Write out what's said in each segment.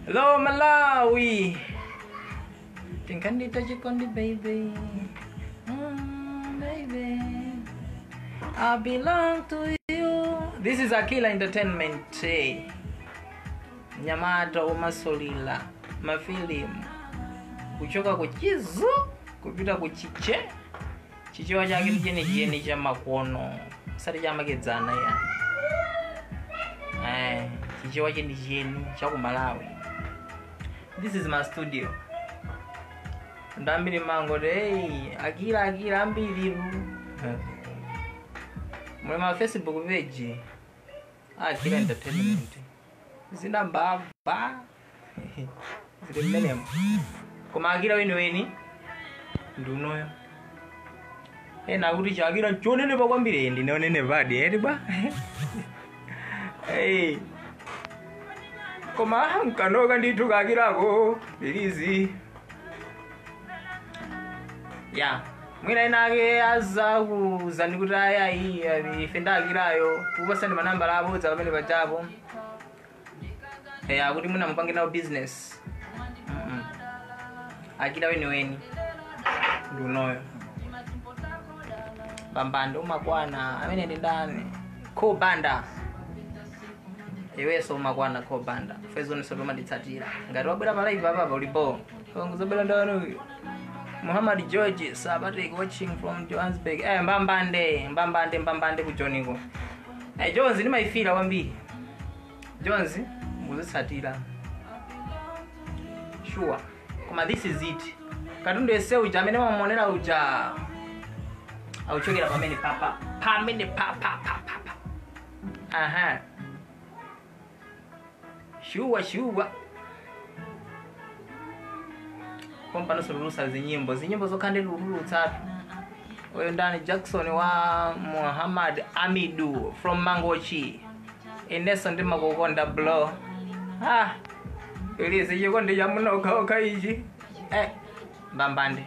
Hello Malawi. Tingkandi tajikondi baby. Mm, baby. I belong to you. This is Akila Entertainment. Hey. Nyamata umasolila mafilimu kuchoka kuchizu kupita kuchiche chichewa chake ndi chenicheni cha makono osati cha makedzana eh, chichewa chenicheni cha ku malawi this is my studio ndi ambiri mangoti hey, akira akira ambiri muli ma facebook page akira entertainment zina mbava ndi mmenemo koma akira weniweni ndi unoyo ena akuti chakira ndi wonenepa kwambiri Eh, ndine wonenepadi eti bwa Eh. koma mkanoka ndithu kakirako bilizi ya mwina ena ake azakuuzani kuti ayayi ife ndi akirayo tikupatsani manambala abodza pamene pachapo eh, akuti mwina mupange nawo business Mm-mm. akira weniweni ndi unoyo pambando umakwana amene ndi ndani ko banda iweso umakwana ko banda fans zonse zimatitsatira ngati wabwera pa live apapa ulipo ongozobwera ndawanoyo muhammad george sabatek watching from johannesburg eh, mbambande mbambande mbambande kujoniko Hey, Joni ndimayifira kwambiri. Joni muzitsatira. Sure. Koma this is it. Katundu ese uja amene wamuonera uja akuchokera pamene papa pamene papa papa. Aha. shuwa shuwa pompano titulutsa zinyimbo zinyimbo zokha ndi titulutsatu uyu ndani jackson wa muhammad amidu from mangochi inenso ndimakukonda bro ah ichi chikondi cha munokhokha ichi eh mbambande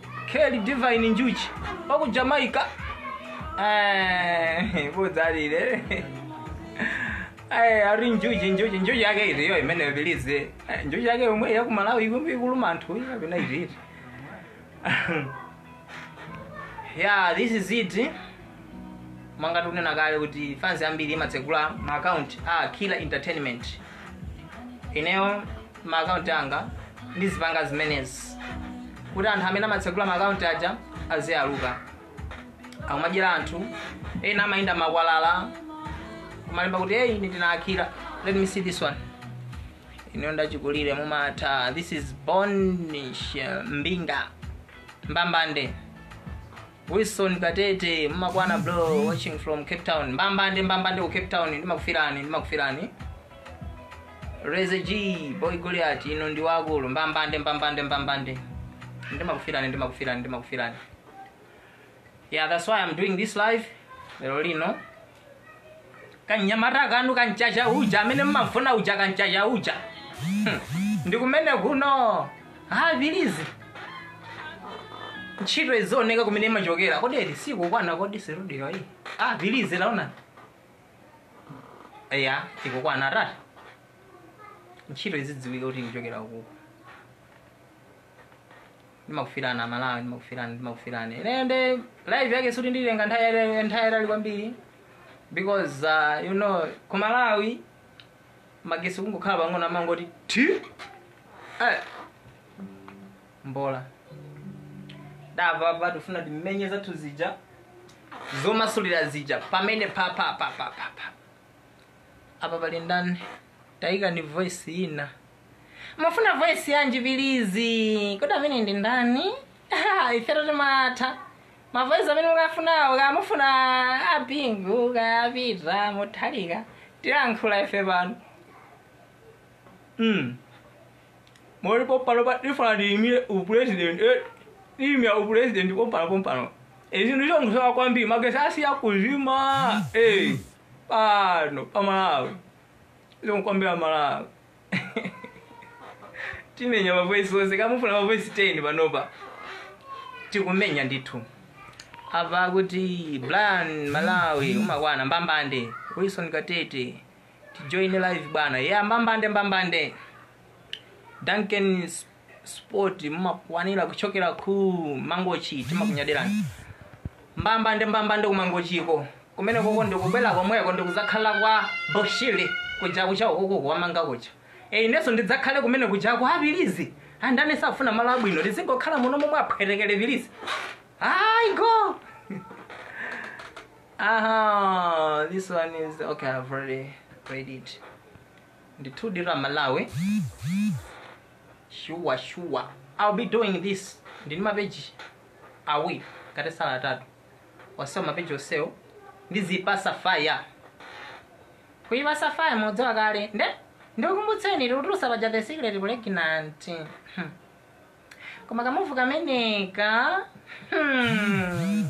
Kelly Divine Njuchi wa ku Jamaica Eh, budzalire Eh, ari njuchi njuchi njuchi yake iri yo imene ibilize Eh, njuchi yake yomwe ya ku Malawi ikuluma anthu iyo kapena iri iti yeah this is it mwanga tinanena kale kuti fans ambiri imatsegula ma account akira entertainment ineyo ma account anga ndizipanga zimenezi kuti anthu amene amatsegula ma account aja aziyaluka akumadyera anthu ena amayenda m'makwalala kumalemba kuti hey ine ndine akira let me see this one ineyo ndi achikulire mumatha this is bonish mbinga mbambande Wilson Katete mmakwana bro watching from Cape Town. Mbambande mbambande ku Cape Town ndimakufirani ndimakufirani. Reza G boy Goliath ino ndi wakulu mbambande mbambande mbambande. Ndimakufirani ndimakufirani ndimakufirani. Yeah, that's why I'm doing this live. Lero lino kanyamata kanu kam'chacha uja amene mmafuna uja kam'chacha uja Hmm. ndi kumene kuno apilizi ntchito izioneka kumene imachokera kodi eti sikukwana kodi situdiyo iyi apilizi taonani eya ikukwana tata ntchito izidziwika kuti ikuchokera kuku ndimakufilani amalawi ndimakufilani ndimakufilani ineyo nde live yake sikuti nditenga nthawi yatali- nthawi yatali kwambiri because uh, you know ku malawi magesi kungokhala pang'ono amangoti ti eh. mbola ndamva apa tifuna timenye zathu zija zomasulira zija pamene pa pa pa pa pa pa apa pali ndani taika ni voice ina mufuna voice yanji apilizi kodi ameneyu ndi ndani Ah, ifeto timatha mavoice amene mukufunawo kaya mufuna abingu kaya apita mutharika tilankhula ife pano mm. muli pompano pa tifuna tiyimire upresident tiyimira upresident pompano pompano zinthu zongosowa kwambiri magesi asiya kuzima eh, pano pamalawi zonkwambira malawi timenya mavoisi onse kaya mufuna mavoisi 10 panopa tikumenya ndithu apa kuti brian malawi umakwana mbambande wilson katete tijoine live bwana ya mbambande mbambande duncan sport mumakwanira kuchokera ku mangochi timakunyadirani mbambande mbambande kumangochiko kumeneko ko ndikubwera komweko ndikudzakhala kwa boshiri kuja kucha ukuku kwamanga kucha e inenso ndidzakhale kumene kuja kwa apilizi ndani safuna malo abwino tizingokhala muno momwe aphwetekere apilizi ayi go aha this one is okay i've already read it ndithudi amalawi shuwa shuwa ill be doing this ndili mapeji awiri ngati sali atatu onsewo mapeji onsewo ndizipatsa fire kuyipatsa fire mudziwa kale nde ndikukumbutseni tikutulutsa paja the secret pregnant Hmm. koma kamuvi kameneka hmm.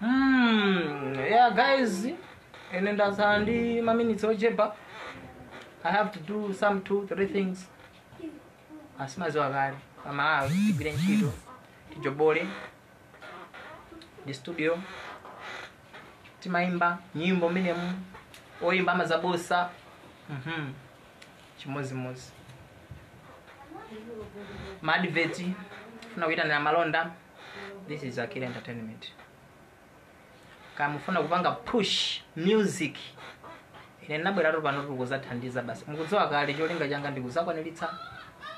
Hmm, yeah guys, ine ndatsala ndi maminitsi ochepa. I have to do some two, three things. Mumaziwa kale, pamalawi, tigwire ntchito, tijobole, ndi studio, timayimba nyimbo mmenemu, oyimba amazaposa, mhm, chimozimozi. Maadveti, funa kuyitanira malonda, this is akira entertainment kaya mufuna kupanga push music ine ndinabweratu pano tili kuzathandiza basi mukudziwa kale cholinga changa ndikuzakwaniritsa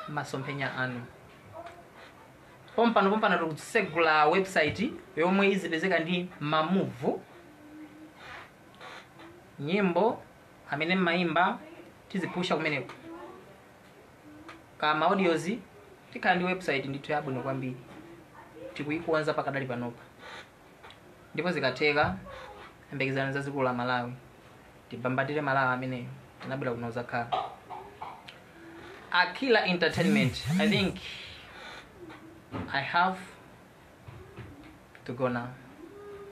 masomphenya anu pompano pompano tikusegula website yomwe izipezeka ndi mamuvu nyimbo zimene mmayimba tizipusha kumeneko ka ma audios tikhala ndi website ndithu yabwino kwambiri tikuyikonza pakadali panopa ndipo zikatheka yembekezani zazikulu la malawi tibambatire malawi ameneyo tinabwera kuno kuzakhala akira entertainment i think i have to go now